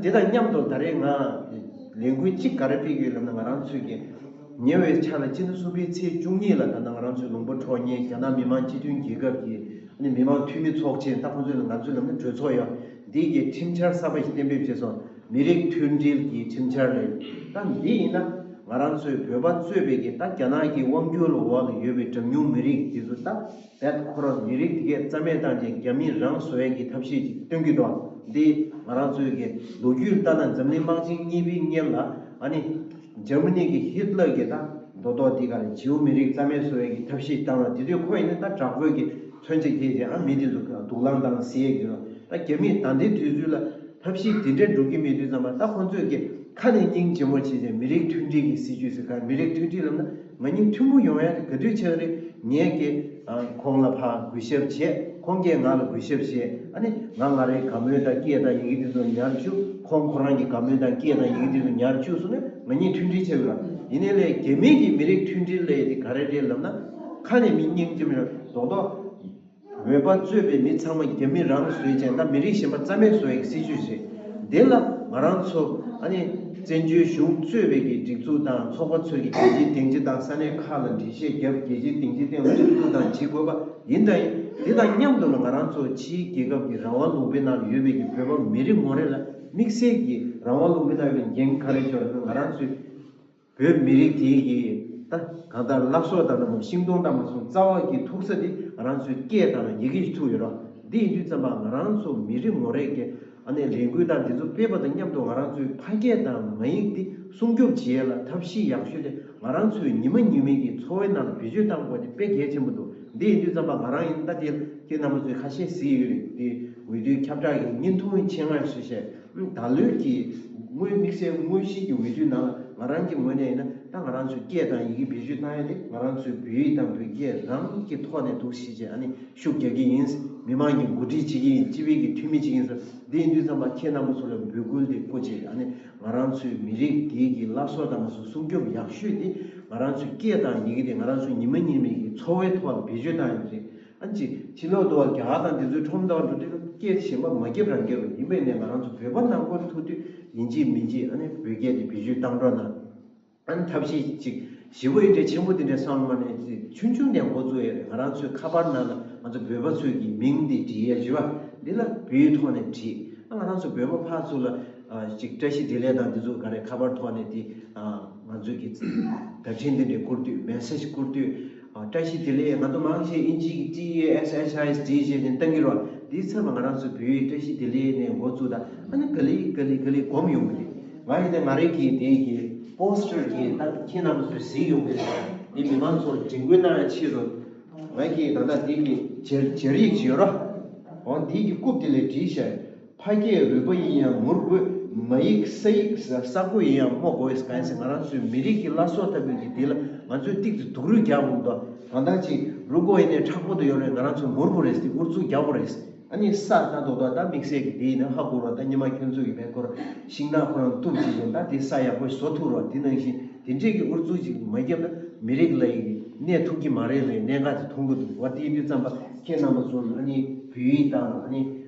དེ་དང་མཉམ་དུ་ད་རེས་ང་ལས་འགུལ་གཅིག་ག་རེ་སྤེལ་གི་ཡོད་ལབ་ན་ང་རང་ཚོས་ཀྱི་ཉེ་བའི་ཆར་ལ་སྤྱི་ཟླ་གསུམ་པའི་ཚེས་བཅུ་གཉིས་ལ་ད་ནང་ང་རང་ཚོའི་ལུང་པ་གྲོ་ཉེ་རྒྱ་ནག་མི་མང་སྤྱི་མཐུན་རྒྱལ་ཁབ་ཀྱི་མི་མང་འཐུས་མི་ཚོགས་ཆེན་ད་ཁོང་ཚོས་ལ་ང་ཚོའི་ལམ་ནས་གྲོས་ཚོགས་ཡང་འདིའི་ཀྱི་ཁྲིམས་འཆར་གསར་པ་ཞིག་གཏན་འབེབས་བྱས་སོང་མི་རིགས་མཐུན་སྒྲིལ་གྱི་ཁྲིམས་འཆར་རེད་ད་འདི་ཡིན་ན་ང་རང་ཚོའི་བོད་པ་གཙོས་པའི་ཀྱི་ད་རྒྱ་ནག་གི་དབང་བསྒྱུར་ལ་འོག་ལ་ཡོད་པའི་གྲངས་ཉུང་མི་རིགས་དེ་ཚོ་ད། བདག་ཁོ་རང་མི་རིགས་འདི་གས་རྩ་མེད་བཏང་རྗེས་རྒྱ་མིས་རང་བཟོ་ཡས་ཀྱི་ཐབས་ཤེས་ཅིག་སྟོན་གྱི་འདུག་འདི་ང་རང་ཚོའི་གས་ལོ་རྒྱུས་ལྟར་ན་འཛམ་གླིང་དམག་ཆེན་གཉིས་པའི་སྔན་ལ་ཨ་ནི། Germany། གྱི་ཧིད་ལར་གྱིས་ད་མདོ་ཐོག་འདི་གར་ཇེའུ་མི་རིགས་རྩ་མེད་བཟོ་ཡས་ཀྱི་ཐབས་ཤེས་བཏང་ན་དེ་དུས་ཁོ་ཡིན་ན་ད་དྲག་པོའི་གས་མཚོན་ཆ་རྒྱས་རྗེས་ཨ་མི་དེ་ཚོ་གས་དུག་ལང་བཏང་ན་ཟེར་ཡས་ཀྱི་རོ་ད་རྒྱ་མིས་ད་འདི་དུས་ཚུལ་ལ་ཐབས་ཤེས་དེ་འདྲས་འགྲོ་གྱི་མེད་དུས་ཙམ་ལ་ད་ཁོ་ཚོས་གས་ཁ་ནས་སྙིང་རྗེ་མོ་བྱེད་རྗེས་མི་རིགས་མཐུན་སྒྲིལ་གྱི་སྲིད་ཇུས་ཟེར་གར་མི་རིགས་མཐུན་སྒྲིལ་ལབ་ན། ང་གཉིས་མཐུན་པོ་ཡོང་ཡ་རེད་ག་དུས་ཆགས་རེད་ངས་ཀྱེ། ཁོང་ལ་ཕ་གུས་ཞབས་བྱས་ཁོང་ཀྱེ་ང་ལ་གུས་ཞབས་བྱས་ཨ་ནི་ང་ང་རེ་ག་མོས་དང་ཀྱེ་དང་ཡི་གེ་དེ་ཚོ་ཉར་བཅུག་ཁོང་ཁོ་རང་གྱི་ག་མོས་དང་ཀྱེ་དང་ཡི་གེ་དེ་ཚོ་ཉར་བཅུག་སོང་ན་ང་གཉིས་མཐུན་སྒྲིལ་ཆགས་ཡོད་རང་ཡིན་ནའི་ལས་དགེ་མིན་གྱི་མི་རིགས་མཐུན་སྒྲིལ་ལས་དེ་ག་རེ་རེད་ལབ་ན་ཁ་ནས་མི་སྙིང་རྗེ་མི་རང་རྡོག་རྡོག། འོས་པ་རྩོད་པའི་མི་ཚང་མ་རྒྱ་མི་རང་བཟོས་ཅན་ད་མི་རིགས་གཞན་པ་རྩ་མེད་བཟོ་ཡག་སྲིད་ཇུས་རེད་དེ་ལ་ང་རང་ཚོ་ཨ་ནི་བཙན་བྱོལ་གཞུང་གཙོས་བས་ཀྱི་སྒྲིག་འཛུགས་དང་ཚོགས་པ་ཚོས་ཀྱི་རྒྱལ་སྤྱིའི་སྟེང་སྤྱི་དང་ས་གནས་ཁག་ལ་འགྲེལ་བཤད་རྒྱབ་རྒྱལ་སྤྱིའི་སྟེང་སྤྱི་སྟེང་ལ་ཁྲིམས་གཏུགས་དང་བྱེད་དགོས་པ་ཡིན་དང་ཡིན་དེ་དང་མཉམ་དུ་ལ་ང་རང་ཚོ་ཕྱིའི་རྒྱལ་ཁབ་ཀྱི་རང་དབང་ལུང་པའི་ནང་ཡོད་བས་ཀྱི་བོད་པ་མི་རེ་ངོ་རེ་ལ་དམིགས་བསལ་གྱི་རང་དབང་ལུང་པའི་ནང་ཡོད་པའི་འགན་ག་རེ་འཇོག་ན་ང་རང་ཚོའི། བོད་མི་རིགས་དེ་ཡི་ད་གང་ལྟར་བླ་སྲོག་དང་ན་མོ་ཤིང་སྡོང་དང་མ་སྲུང་རྩ་བ་ཀྱི་ཐུག་ས་དེ་རང་ཚོའི་སྐད་དང་ཡི་གེ་ཀྱི་ཐུག་ཡོད་རོ་འདི་ཡིན་དུས་ཙམ་པ་ང་རང་ཚོ་མི་རིགས་ངོ་རེ་ཀྱི་ཨ་ནེ་ལས་འགུལ་དང་དེ་ཚོ་སྤེལ་པ་དང་མཉམ་དུ་ང་རང་ཚོའི་ཕ་སྐད་དང་མ་ཡིག་དེ་སྲུང་སྐྱོབ་བྱེད་ལ་ཐབས་ཤེས་ཡག་ཤོས་དེ་ང་རང་ཚོའི་ཉི་མ་ཉི་མིག་གི་འཚོ་བའི་ནང་ལ་བེད་སྤྱོད་གཏང་དགོས་དེ་དཔེ་གལ་ཆེན་པོ་འདུག་འདི་ཡིན་དུས་ཙམ་པ་ང་རང་ཡིན་ད་དེ་ལ་ཁྱེད་རྣམ་པ་ཚོའི་ཁ་ཤས་གཟིགས་ཡོད་རེད་དེ་འོས་བསྡུའི་ཁྱབ་བསྒྲགས་ཀྱི་བརྙན་ཐུང་ཡིན་ཆེད་སྔར་བཞིན་བཤད་ད་ལོའི་ཀྱི་སྔོན་དམིགས་བསལ་དངོས་གཞིའི་ཀྱི་འོས་བསྡུའི་ནང་ལ་ང་རང་ཀྱི་ངོས་ནས་ཡིན་ན་ད་ང་རང་ཚོའི་སྐད་དང་ཡི་གེ་བེད་སྤྱོད་གཏང་ཡ་དེ་ང་རང་ཚོའི་བོད་ཡིག་དང་བོད་སྐད་རང་ཉིད་ཀྱི་ཐོག་ནས་འདུག་ཤེས་བྱས་ཨ་ནི་ཤུགས་རྒྱག་གི་ཡིན། མི་དམངས་ཀྱི་འགོ་ཁྲིད་བྱེད་ཀྱི་ཡིན་སྤྱི་བའི་ཀྱི་འཐུས་མི་བྱེད་ཀྱི་ཡིན་ཟེར་འདི་ཡིན་དུས་ཙམ་པ་ཁྱེད་རྣམ་པ་ཚོ་ལ་འབོད་སྐུལ་དེ་བཀོད་བྱས་ཨ་ནི་ང་རང་ཚོའི་མི་རིགས་འདིའི་ཀྱི་བླ་སྲོག་དང་པ་ཚོ་སྲུང་སྐྱོབ་ཡག་ཤོས་དེ་ང་རང་ཚོའི་སྐད་དང་ཡི་གེ་དེ་ང་རང་ཚོའི་ཉི་མ་ཉིན་མེད་ཀྱི་འཚོ་བའི་ཐོག་ལ་བེད་སྤྱོད་གཏང་ཡ་དེ་རེད། ཨན་ཅི། བྱིས་བློ་བདོ་བ་རྒྱ་གར་དང་འདི་ཚོའི་ཁྲོམ་ཟླ་བ་འགྲོ་དུས་སྐད་ཆ་གཞན་པ་མ་བརྒྱབ་རང་སྐད་རུ་ཡིན་པས་ནས་ང་རང་ཚོ་བོད་པ་ནང་ཁོལ་ཐུག་དུས་ཡིན་གཅིག་མིན་གཅིག་ཨནི་བོད་སྐད་དེ་བེད་སྤྱོད་བཏང་འགྲོ་ན་ཨནི་ཐབས་ཤེས་གཅིག་བཞི་བོ་ཨི་འདྲའི་ཆེན་པོ་འདི་འདྲའི་བསམ་བློ་མ་གནས་ཚེ་ཆུང་ཆུང་དེ་འགོ་བཙུགས་ཡས་རེད་ང་རང་ཚོའི་ཁ་པར་ནང་ལ་ང་ཚོ་བོད་པ་ཚོས་ཀྱི་མིང་འདི་བྲིས་ཡས་བཞི་བ་འདི་ལ་བུའི་ཐོག་ནས་བྲིས་ཨ་ང་རང་ཚོ་བོད་པ་ཕག་ཚོ་ལ་གཅིག་བཀྲ་ཤིས་བདེ་ལེགས་དང་འདི་ཚོ་ག་རེ་ཁ་པར་ཐོག་ནས་དེ་ང་ཚོས་ཀྱི་བརྡ་འཕྲིན་འདི་འདྲའི་བསྐུར་དུས Message བསྐུར་དུས། བཀྲ་ཤིས་བདེ་ལེགས་ང་དོ་མང་ཞེས་དབྱིན་ཇིའི་གི TESHISD ཞེས་ནས་གཏང་གི་རོགས་འདིའི་ཚབ་ལ་ང་རང་ཚོའི་བེའུ་ཡིས་བཀྲ་ཤིས་བདེ་ལེགས་ནས་མགོ་བཙུགས་ད་ཨ་ནི་ག་ལི་ག་ལི་ག་ལི་སྒོམ་ཡོང་གི་རེད་ང་ཡིན་ན་ང་རིག་གི་དེའི་གི Poster གི་སྟངས་ཁྱེད་རྣམས་ཚོས་གཟིགས་ཡོང་གི་རེད་འདི་མི་མང་ཚོར་དྲན་སྐུལ་གནང་ཡང་ཆེས་རུང་ང་གིས་ད་ལྟ་འདི་གི་སྦྱར་སྦྱར་ཡིག་ཅིག་ཡོད་རོགས་འོང་འདིའི་གི་རྐུབ་དེ་ལས་བྲིས་ཤག། ཕ་སྐད་རུས་པ་ཡིན་ཡང་ངུར་དགོས། མ་ཡིག་ས་ཡིག་ས་རྒོད་ཡིན་ཡང་སྨྲོ་དགོས། གང་ཟེར་ང་རང་ཚོའི་མི་རིགས་ཀྱི་བླ་སྲོག་ལྟ་བུའི་གི་དེ་ལ་ང་ཚོས་གཏིག་ཏུ་དུག་རུས་རྒྱག་དགོས་འདོ། གང་དག་ཅིག་རུ་དགོ་ཡིན་ནའི་ཁྲག་པོ་དུ་ཡོད་རེད་ང་རང་ཚོ་ངུར་པོ་རེད་དེ་ཨུར་ཚུགས་རྒྱག་པོ་རེད། ཨ་ནི་ས་ད་དོག་དོག་ད་དམིགས་བསལ་གི་དེ་ཡིན་ན་ཧ་གོ་རོགས་ད་ཉི་མ་ཁྱོད་ཚོ་གི་བལ་ཁོར་ཤིང་ནག་ཁོ་རང་གཏུབ་བྱེད་བཞིན་ད་དེ་ས་ཡག་པོ་བཟོ་ཐུག་རོགས་དེ་ནང་བཞིན་དེ་འདྲས་གི་ཨུར་ཚུགས་ཅིག་མ་རྒྱབ་ན་མི་རིགས་ལ་ཡི་གི་ནས་ཐུག་གི་མ་རེད་རེད་གནད་འགག་དེ་མཐོང་གི་འདུག་ང་དེ་དུས་རྩམ་པ་ཁྱེད་རྣམ་པ་ཚོ་ཨ་ནི་བོད་ཡིག་དང་ཨ་ནི།